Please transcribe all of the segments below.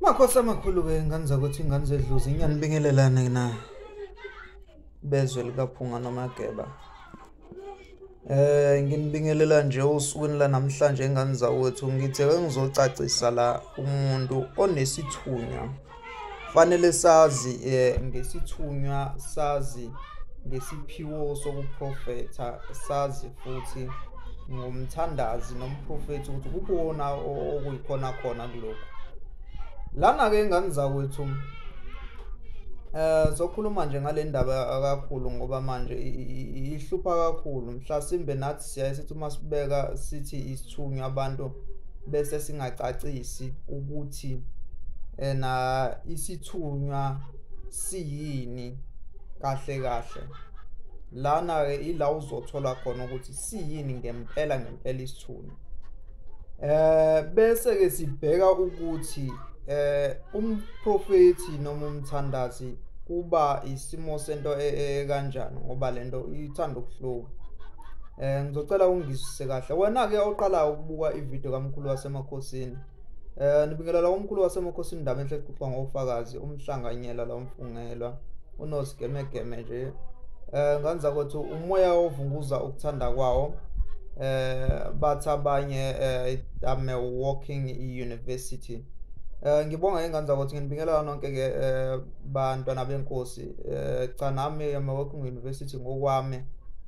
makhosi amakhulu-ke ingane zakwethu ingane zedluzi inyanibingelelane na bezwe likaphunga nomageba Eh nginibingelela nje usukwini lanamhlanje engane zawethu ngithe ke ngizocacisa la umuntu onesithunywa Fanele sazi eh, ngesithunywa sazi ngesiphiwo sokuprofetha sazi futhi ngomthandazi nomprofethi ukuthi kukuwona okuyikhona khona kulokhu lana-ke ingane zakwethu um eh, sokhuluma nje ngale ndaba kakhulu ngoba manje ihlupha kakhulu mhlasimbe nathi siyaye sithi uma sibeka sithi isithunywa abantu bese singacacisi ukuthi ena isithunywa siyini kahle kahle lana-ke ila uzothola khona ukuthi siyini ngempela ngempela isithunywa Eh bese ke sibheka ukuthi eh umprofeti noma umthandazi kuba isimo sento e, e, kanjani ngoba lento ithanda ukuhluka eh ngizocela ungizise kahle wena ke oqala ukubuka ivideo kamkhulu wasemakhosini eh nibingelela umkhulu wasemakhosini ndaba enhle kuxoxa ngofakazi umhlanganyela lomfungelwa unosigemegeme nje eh nganza ukuthi umoya ovunguza ukuthanda kwawo eh bathi abanye eh, I'm a walking university Eh ngibonga ingane ukuthi nginibingelela nonke ke eh, bantwana benkosi eh cha nami amawoku university ngokwami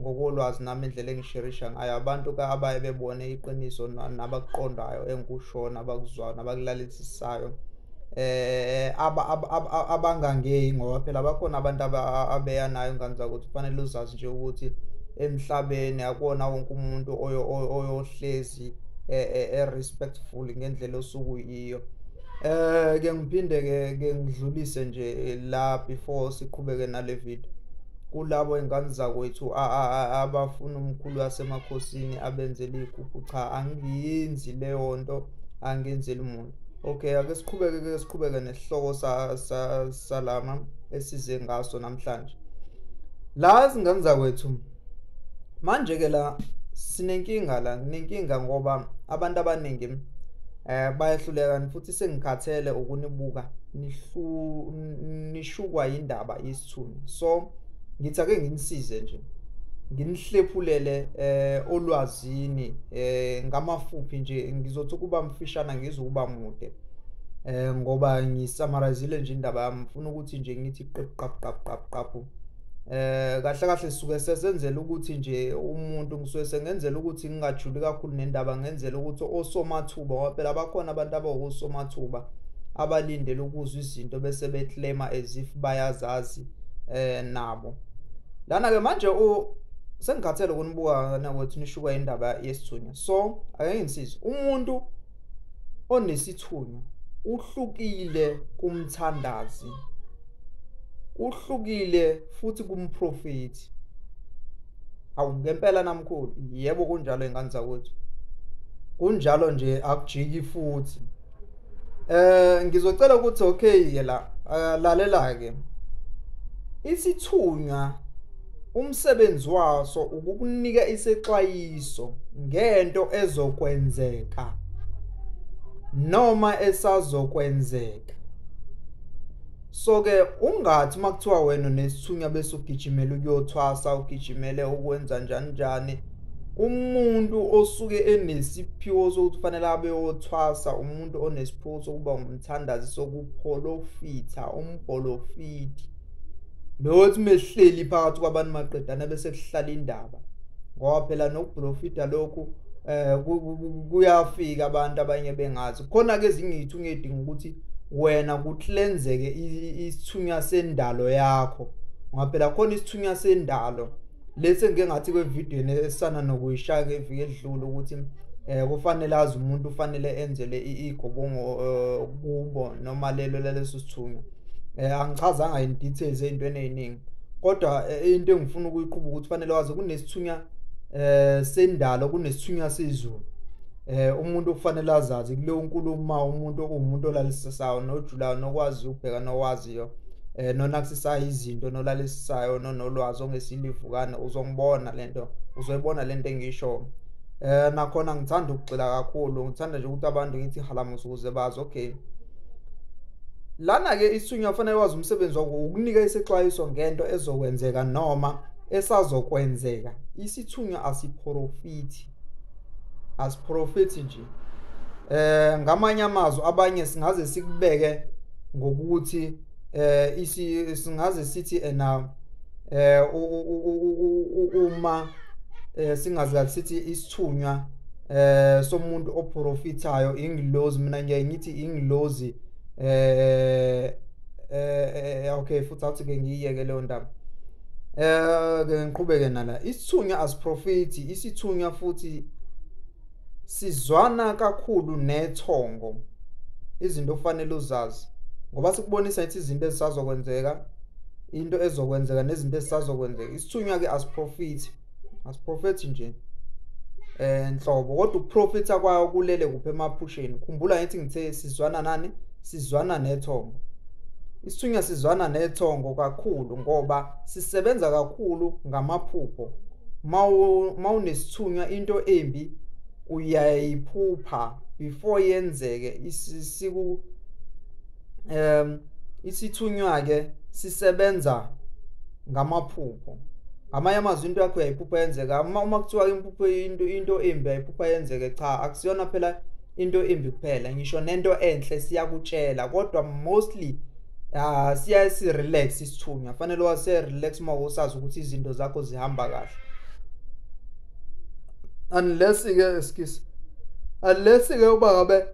ngokolwazi nami indlela engisherisha ngayo abantu ka abaye bebone iqiniso nabakuqondayo engikushoyo nabakuzwayo nabakulalisisayo eh abangangeyi ngoba phela bakhona abantu abeya nayo ngane zakuthi kufanele uzazi nje ukuthi emhlabeni akona wonke umuntu oyohlezi e, e, e respectful ngendlela osuku iyo eh ke ngiphinde ke ke ngidlulise nje la before siqhubeke nale video kulabo ingane zakwethu abafuna umkhulu wasemakhosini abenzele igugu cha angiyenzi leyo nto angenzeli muntu Okay, ake siqhubeke ke siqhubeke nesihloko salama esize ngaso namhlanje. La izingane zakwethu manje ke la sinenkinga la nenkinga ngoba abantu abaningi eh bayahluleka futhi sengikhathele ukunibuka nihlu nishukwa indaba sithuni so ngithi ake nginisize nje nginihlephulele eh olwazini eh ngamafuphi nje ngizothi ukuba mfishana ngizokuba mude eh ngoba ngisamarizile nje indaba yami ngifuna ukuthi nje ngithi qap qap qap qap qap eh kahle kahle suke sesenzela ukuthi nje umuntu ngisuke sengenzela ukuthi ngingajuli kakhulu nendaba ngenzela ukuthi osomathuba ngoba phela bakhona abantu abawosomathuba abalindele ukuzwa izinto bese beclaima as if bayazazi eh nabo lana ke manje u sengikhathele ukunibuka nakuthi nishuka indaba yesithunywa so ake ngisize umuntu onesithunywa uhlukile kumthandazi uhlukile futhi kumprofethi awu ngempela namkhulu yebo kunjalo ingane zakwethu kunjalo nje akujiki futhi Eh ngizocela ukuthi okay ke la eh, lalela ke. Isithunywa umsebenzi waso ukukunika isexwayiso ngento ezokwenzeka noma esazokwenzeka so ke ungathi makuthiwa wena nesithunywa bese ugijimela ukuyothwasa ugijimele ukwenza njani njani umuntu osuke enesiphiwo sokuthi fanele abe othwasa umuntu onesiphiwo sokuba ngumthandazi sokupholofitha umbholofiti lothi mehleli phakathi kwabantu maqedana bese kuhlala indaba ngoba phela nokubholofitha lokhu eh kuyafika abantu abanye bengazi khona ke ezinye izithunywa edinga ukuthi wena kuhlenzeke isithunywa sendalo yakho ngoba phela khona isithunywa sendalo lesi engike ngathi kwevidiyo esana nokuyishaya ngeviki edlule ukuthi eh kufanele azi umuntu ufanele enzele igobongo eh, kubo noma lelo laleso sithunywa eh angichazanga in details ezintweni eziningi kodwa eh, into engifuna ukuyiqhuba ukuthi kufanele wazi kunesithunywa eh sendalo kunesithunywa sezulu eh umuntu kufanele azazi kuleyo nkulumo umuntu okuwumuntu olalisesayo nojulayo nokwazi ukubheka nokwazi engimaziyo eh nonakisisayo izinto nolalisayo nonolwazi ongesilivukane uzongibona lento uzoyibona lento engisho eh nakhona ngithanda ukugxila kakhulu ngithanda nje ukuthi abantu ngithi halamusa ukuze bazi okay lana-ke isunya kufanele wazi umsebenzi wako ukunika isexwayiso ngento ezokwenzeka noma esazokwenzeka isithunywa asiphorofithi asiprofethi nje eh ngamanye amazwi abanye singaze sikubeke ngokuthi eh isi singaze sithi ena eh uma eh, singazi kahle sithi isithunywa eh somuntu oprofitayo ingilozi mina ngiye ngithi ingilozi eh eh, eh okay futhi awuthi ke ngiyeke leyo ndaba Eh ke ngiqhubeke nala isithunywa asiprofiti isithunywa futhi sizwana kakhulu nethongo izinto ofanele uzazi ngoba sikubonisa ithi izinto ezisazokwenzeka into ezokwenzeka nezinto ezisazokwenzeka isithunywa ke asiprofiti asiprofethi nje eh nhlobo kodwa ukuprofitha kwayo kulele kuphi emaphusheni khumbula ngithi ngithe sizwana nani sizwana nethongo isithunywa sizwana nethongo kakhulu ngoba sisebenza kakhulu ngamaphupho mawunesithunywa into embi uyayiphupha before yenzeke isiku um isithunywa ke sisebenza ngamaphupho ngamanye amazwi into yakho uyayiphupha yenzeka uma uma kuthiwa impupho into into embi ayiphupha yenzeke cha akusiyona phela into embi kuphela ngisho nento enhle siyakutshela kodwa mostly ah siya si relax isithunywa fanele wase relax uma usazi ukuthi izinto zakho zihamba kahle unless ke excuse unless ke uba ngabe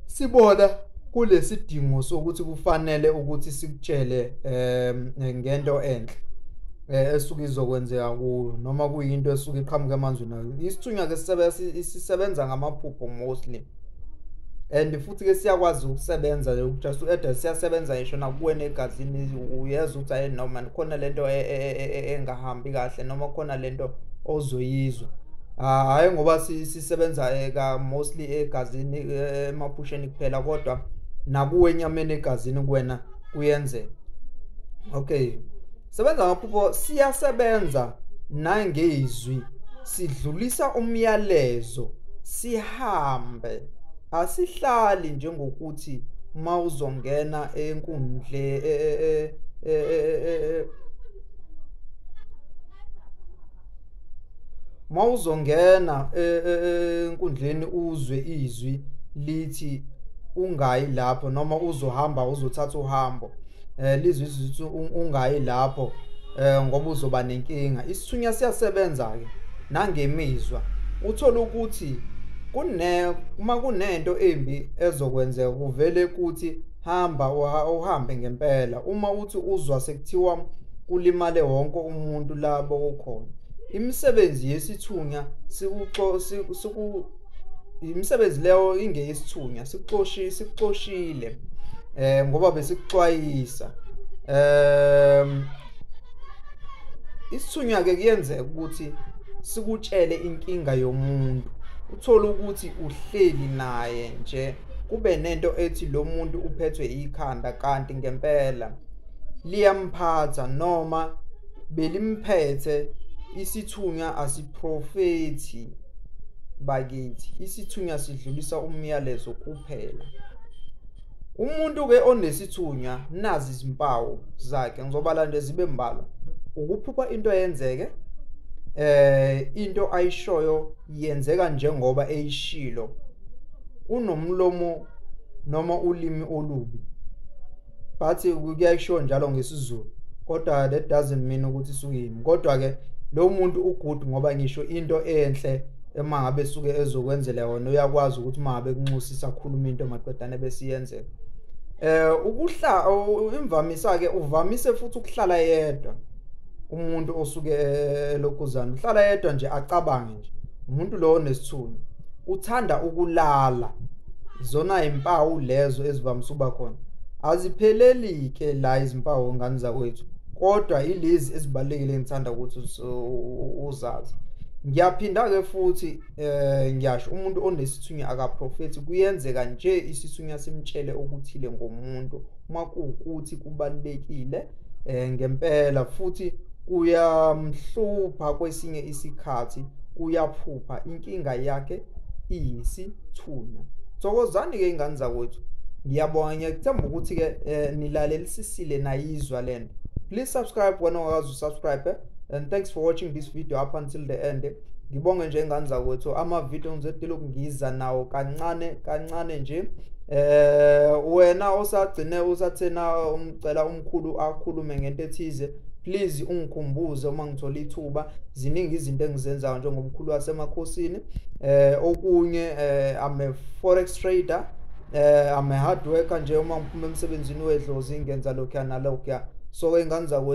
sibona kulesidingo sokuthi kufanele ukuthi sikutshele em ngento enhle eh, esuke izokwenzeka kuyo noma kuyinto esuke iqhamuka emanzini isithunywa ke sisebenza isisebenza ngamaphupho mostly and futhi ke siyakwazi ukusebenza just u-eda siyasebenza ngisho nakuwena egazini uyeza ukuthi ayi noma khona le nto e, e, e, engahambi kahle noma khona le nto ozoyizwa ah, hhayi ngoba sisebenza ka mostly egazini emaphusheni kuphela kodwa nakuwe enyameni egazini kuwena kuyenzeka okay sebenza ngaphupho siyasebenza nangezwi sidlulisa umyalezo sihambe asihlali njengokuthi mawuzongena enkundle e, e, e, mawuzongena e, e, e, enkundleni uzwe izwi lithi ungayi lapho noma uzohamba uzothatha uhambo eh lizwi izwi ungayi lapho eh ngoba uzoba nenkinga isithunya siyasebenza ke nangemizwa uthola ukuthi kune uma kunento embi ezokwenzeka kuvele kuthi hamba uhambe ngempela uma uthi uzwa sekuthiwa kulimale wonke umuntu labo ukhona imisebenzi yesithunya siku imisebenzi leyo ingeyesithunya sikuxoshile sikuxoshile eh ngoba besikuxwayisa ehm isithunywa ke kuyenzeka ukuthi sikutshele inkinga yomuntu uthole ukuthi uhleli naye nje kube nento ethi lo muntu uphethwe ikhanda kanti ngempela liyamphatha noma belimphethe isithunywa asiprofethi bakithi isithunywa sidlulisa umyalezo kuphela umuntu ke onesithunywa nazi izimpawu zakhe ngizobala nje zibe mbala ukuphupha into yenzeke eh into ayishoyo yenzeka njengoba eyishilo unomlomo noma ulimi olubi but kuyayisho njalo ngesizulu kodwa that doesn't mean ukuthi suyimi kodwa ke lo muntu ugood ngoba ngisho into enhle uma ngabe suke ezokwenzela yona uyakwazi ukuthi uma ngabe kunxusisa akhuluma into maqedane besiyenzeka eh ukuhla imvamisa ke uvamise futhi ukuhlala yedwa umuntu osuke elokhuzana uhlala yedwa nje acabange nje umuntu lowo nesithunzi uthanda ukulala zona impawu lezo ezivamise uba khona azipheleli ke la izimpawu ngani zakwethu kodwa ilezi ezibalekile ngithanda ukuthi uzazi ngiyaphinda ke futhi eh ngiyasho umuntu onesithunywa akaprofethi kuyenzeka nje isithunywa simtshele okuthile ngomuntu uma kuwukuthi kubalulekile eh ngempela futhi kuyamhlupha kwesinye isikhathi uyaphupha inkinga yakhe iyisithunywa thokozani ke ingane zakwethu ngiyabonga ngiyakuthemba ukuthi ke eh, nilalelisisile nayizwa lento please subscribe wena ongakazi usubscribe eh? and thanks for watching this video up until the end eh? ngibonge nje ngani zakwethu amavidiyo ngizodela ukungiza nawo kancane kancane nje eh wena osagcine usathena umcela umkhulu akhulume ngento ethize please ungikhumbuze uma ngithola ithuba ziningi izinto engizenzayo njengomkhulu wasemakhosini eh okunye eh I'm a forex trader eh I'm a hard worker nje uma ngiphuma emsebenzini wedlozi ngenza lokho nalokho so ingane zakwethu